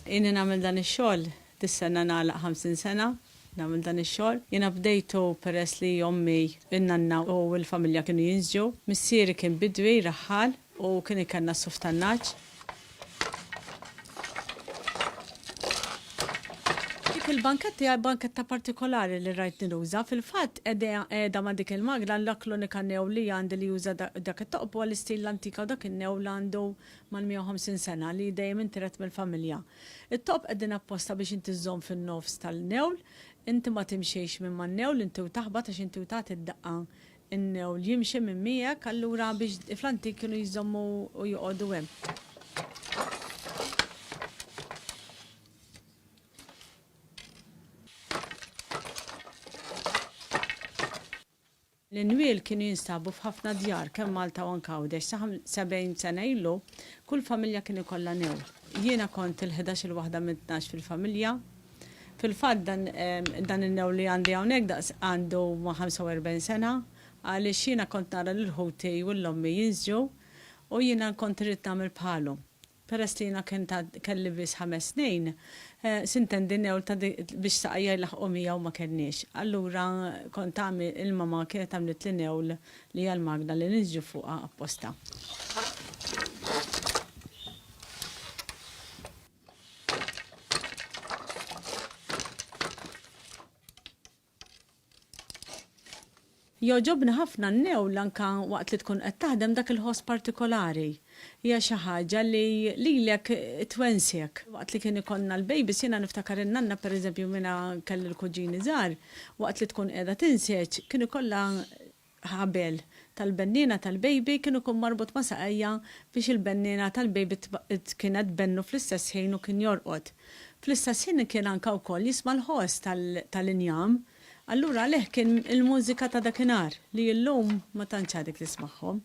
Inni namil dan ix-xogħol, dis-sena nagħlaq 50 sena, namil dan ix-xogħol. Jiena bdejtu peress li ommi, in-nanna u l-familja kienu jinsġu. Missieri kien bidwi, raħħal, U kien ikanna s-suf tan-nagħaġ. Dik il-banketta hija banketta partikolari li rajtni nuża. Fil-fatt, qiegħda ma' dik il-magna, l-ak l-unika new li għandi li juża dak it-toqob huwa l-istil l-antika u dak in-new li għandu mal-150 sena li dejjem intiret mill-familja. It-toqob qegħdin apposta biex inti żżomm fin-nofs tal-new, inti ma timxiex minn man-new, inti u taħbat għax inti u tagħti d-daqqa Innew li jimxi minn miegħek, allura biex fl-antik kienu jżommu u joqogħdu hemm. L-inwiel kienu jinstabu f'ħafna djar kemm Malta u anke Għawdex. Sa 70 sena ilu, kull familja kien ikollha new. Jiena kont il-ħdax-il waħda minn tnax fil-familja. Fil-fatt dan in-new li għandi hawnhekk daqs għandu ma' 45 sena għaliex jiena kont nara lil ħuti u lil ommi jinżġu u jiena kont irrid nagħmel bħalhom. Peress li jiena kont għad kelli biss ħames snin, sintendi new ta' dik biex saqajja jlaħħqu miegħu ma kellniex. Allura kont għamil il-mama kienet għamlitli new li hija l-magna li ninżġu fuqha apposta. Jogħġobni ħafna n-newl anke waqt li tkun qed taħdem dak il-ħoss partikolari. Hija xi ħaġa li lilek twensek. Waqt li kien ikollna l-bejbis jiena niftakar in-nanna pereżempju minn kelli l-kuġini żgħar, waqt li tkun qiegħda tinseġ kien ikollha ħabel tal-benniena tal-bejbi kien ikun marbut ma' saqajja biex il-benniena tal-bejbi kienet tbennu fl-istess ħin u kien jorqod. Fl-istess ħin kien anka wkoll jisma' l-ħoss tal-injam. Allura għalih kien il-mużika ta' dakinhar li illum ma tantx għadek tismagħhom.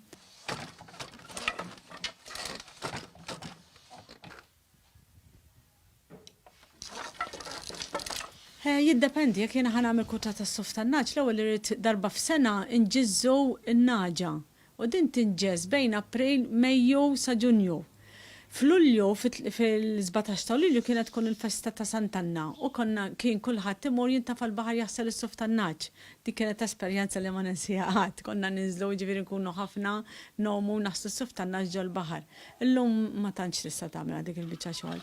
Eh, jiddependi, jekk jiena ħan għamil kuta ta' suf ta' naġ, l-ewwel irrid darba f'sena nġizzu n-naġa. U din tinġez bejn April, Mejju sa Ġunju. F'Lulju, fil-17 ta' Lulju kienet tkun il-festa ta' Sant'Anna u konna kien kulħadd imur jintafa' l-baħar jaħsel is-suf ta' naġ Dik kienet esperjenza li ma ninsiha qatt. Konna ninżlu, jiġifieri nkunu ħafna, nomu, naħslu s-suf ta' naġ ġol-baħar. Illum ma tantx tista' tagħmilha dik il-biċċa xogħol.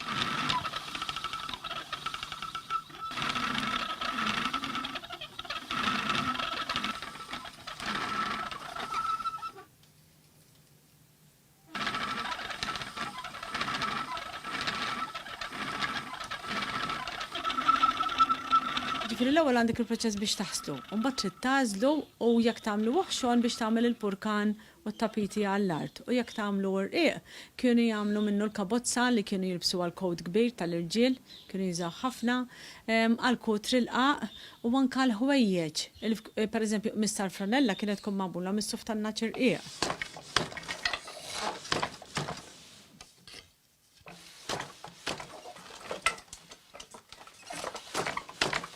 Ġifieri l-ewwel għandek il-proċess biex taħslu, u mbagħad trid tagħżlu u jekk tagħmlu oħxon biex tagħmel il-purkan u t-tapiti għall-art, u jekk tagħmlu urqieq, kienu jagħmlu minnu l-kabozza li kienu jilbsu għall-kowt kbir tal-irġiel, kienu jużawh ħafna, għall-kut rilqaq, u anke l-ħwejjeġ, pereżempju qmiż tal-franella kienet tkun magħmula mis-suf tan-nagħaġ irqiq.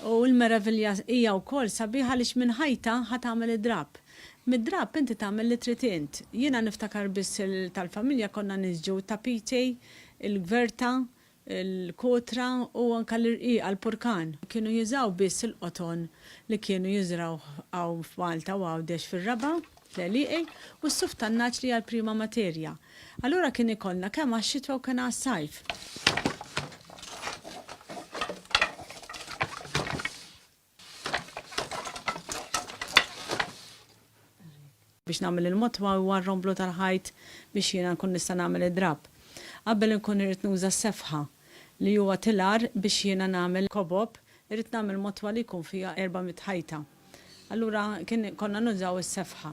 U l-meravilja hija wkoll sabiħa għaliex minn ħajta ħa tagħmel id-drapp. Mid-drapp inti tagħmel li trid int. Jiena niftakar biss il tal-familja konna niġġu t-tapiti, il-gverta, il-kotra u anke l-irqiqa, l-purkan. Kienu jużaw biss il-qoton li kienu jiżrawh hawn f'Malta u Għawdex fir-Raba'. l-għelieqi u s-suf tan-nagħaġ li hija l-prima materja. Allura kien ikollna kemm għax-xitwa u kien għas-sajf. biex nagħmel il-motwa u r-romblu tal-ħajt biex jiena nkun nista' nagħmel id-drapp. Qabel inkun irrid nuża s-sefħa li huwa tilar biex jiena nagħmel kobob, irrid nagħmel motwa li jkun fiha 400 ħajta. Allura kien konna nużaw is-sefħa.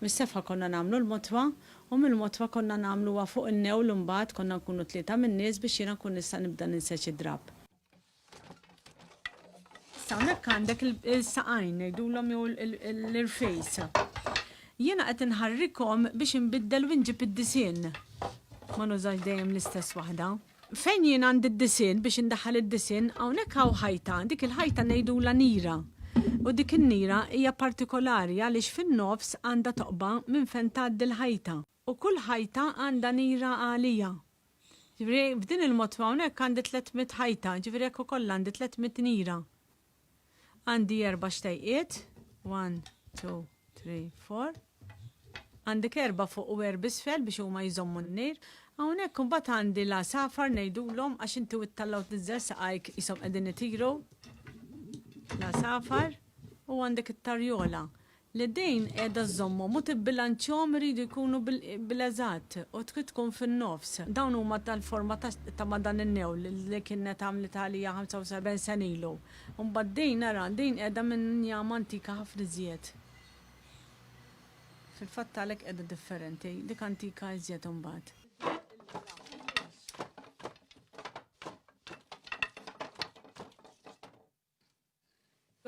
Mis-sefħa konna nagħmlu l-motwa u mill-motwa konna nagħmluha fuq in-newl imbagħad konna nkunu tlieta min-nies biex jiena nkun nista' nibda ninseġ id-drapp. Issa hawnhekk għandek il-saqajn ngħidulhom jew l-irfejs. Jiena qed inħarrikhom biex inbiddel u nġib id-disinn. Ma nużax dejjem l-istess waħda. Fejn jien għandi d-disinn, biex indaħħal id-disinn, hawnhekk hawn ħajta, dik il-ħajta ngħidulha nira. U dik in-nira hija partikolari għaliex fin-nofs għandha toqba minn fejn tgħaddi l-ħajta. U kull ħajta għandha nira għalija. Jiġifieri, b'din il-motto hawnhekk għandi tliet mitt ħajta, jiġifieri hekk ukoll għandi tliet mitt nira. Għandi erba' xtejqiet, one, two, three, four. Għandek erba' fuq u erb' isfel biex huma jżommu n-nejr. Hawnhekk imbagħad għandi l-għasafar ngħidulhom għax inti witt tal-lgħud niżżel saqajk qishom qegħdin itiru. L-għasafar u għandek it-tarjola. Li din qiegħda żżommhom u tibbilanċjahom iridu jkunu bil-eżatt u trid tkun fin-nofs. Dawn huma tal-forma ta' ma' dan in-newl li kienet għamlitha għalija 75 sena ilu. U mbagħad din, ara, din qiegħda minn njama antika ħafna iżjed. Fil-fatt għalhekk qiegħda differenti, dik antika iżjed imbagħad.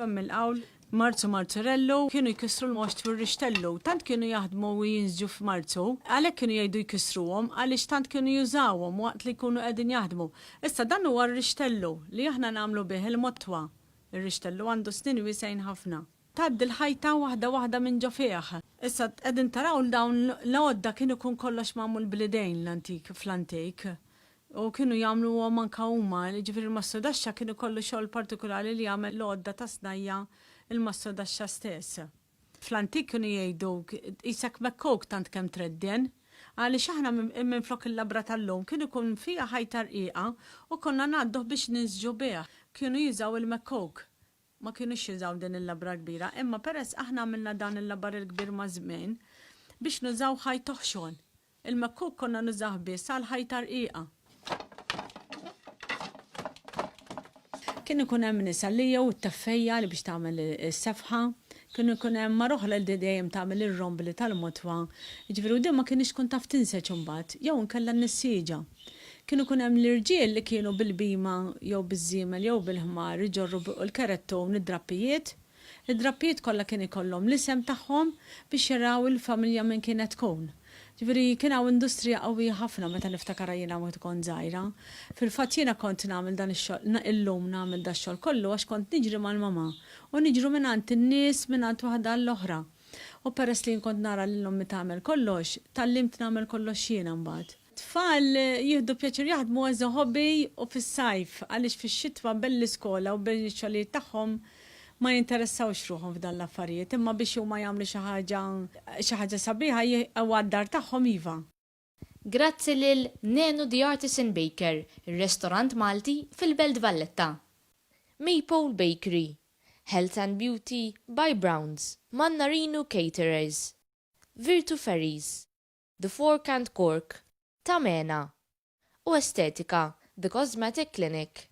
B'hemm il-qawl, Marzu Marzurellu, kienu jkissru l-moxt fuq ir-rixtellu, tant kienu jaħdmu u jinżġu f'Marzu, għalhekk kienu jgħidu jkissruhom, għaliex tant kienu jużawhom waqt li jkunu qegħdin jaħdmu. Issa dan huwa r-rixtellu li aħna nagħmlu bih il-motwa. Ir-rixtellu għandu snien wiesgħin ħafna. Tgħaddi l-ħajta waħda waħda minn ġo fih. Issa qegħdin taraw li dawn l-għodda kien ikun kollox magħmul bl-idejn l-antik fl-antik. U kienu jagħmluhom anke huma, jiġifieri l-Mastru Daxxa kien ikollu xogħol partikulari li jagħmel l-għodda tas-snajja' l-Mastru Daxxa stess. Fl-antik kienu jgħiduk, qisek mekkuk tant kemm tredden. Għaliex aħna minflok il-labra tal-lum kien ikun fiha ħajta rqiqa u konna ngħadduh biex ninsġu bih, kienu jużaw il-mekkuk. Ma kinux jużaw din il-labra l-kbira, imma peress aħna għamilna dan il-labar il-kbir maż-żmien, biex nużaw ħajt oħxon. Il-mekkuk konna nużah biss għall-ħajta rqiqa. Kien ikun hemm nisa li jew it-teffejja li biex tagħmel is-sefħa, kien ikun hemm mara oħra li dejjem tagħmel ir-rombli tal-motwa, jiġifieri u din ma kinitx tkun taf tinseġ imbagħad, jew inkella n-nissieġa. Kienu jkun hemm l-irġiel li kienu bil-bhima jew biż-żiemel jew bil-ħmar iġorru bi l-kerettun id-drappijiet. Id-drappijiet kollha kien ikollhom l-isem tagħhom biex jaraw il-familja minn kienet tkun. Ġifieri kien hawn industrija qawwija ħafna meta niftakarha jiena waqt kont żgħira. Fil-fatt jiena kont nagħmel dan ix-xogħol, illum nagħmel dax-xogħol kollu għax kont niġri mal-mama u niġru mingħand in-nies mingħand waħda għall-oħra. U peress li jien kont nara lil ommi tagħmel kollox, tgħallimt nagħmel kollox jiena mbagħad. Tfal jieħdu pjaċir jaħdmu as a hobby u fis-sajf għaliex fix-xitwa bel l-iskola u bel ix-xogħlijiet tagħhom ma jinteressawx ruħhom f'dan l-affarijiet imma biex huma jagħmlu xi ħaġa xi ħaġa sabiħa jieqgħu għad-dar tagħhom iva. Grazzi lil Nenu the Artisan Baker, ir-restorant Malti fil-Belt Valletta. Maypole Bakery. Health and Beauty by Browns. Mannarino Caterers. Virtu Ferries. The Fork and Cork, Ta' Mena, u Estetika, The Cosmetic Clinic.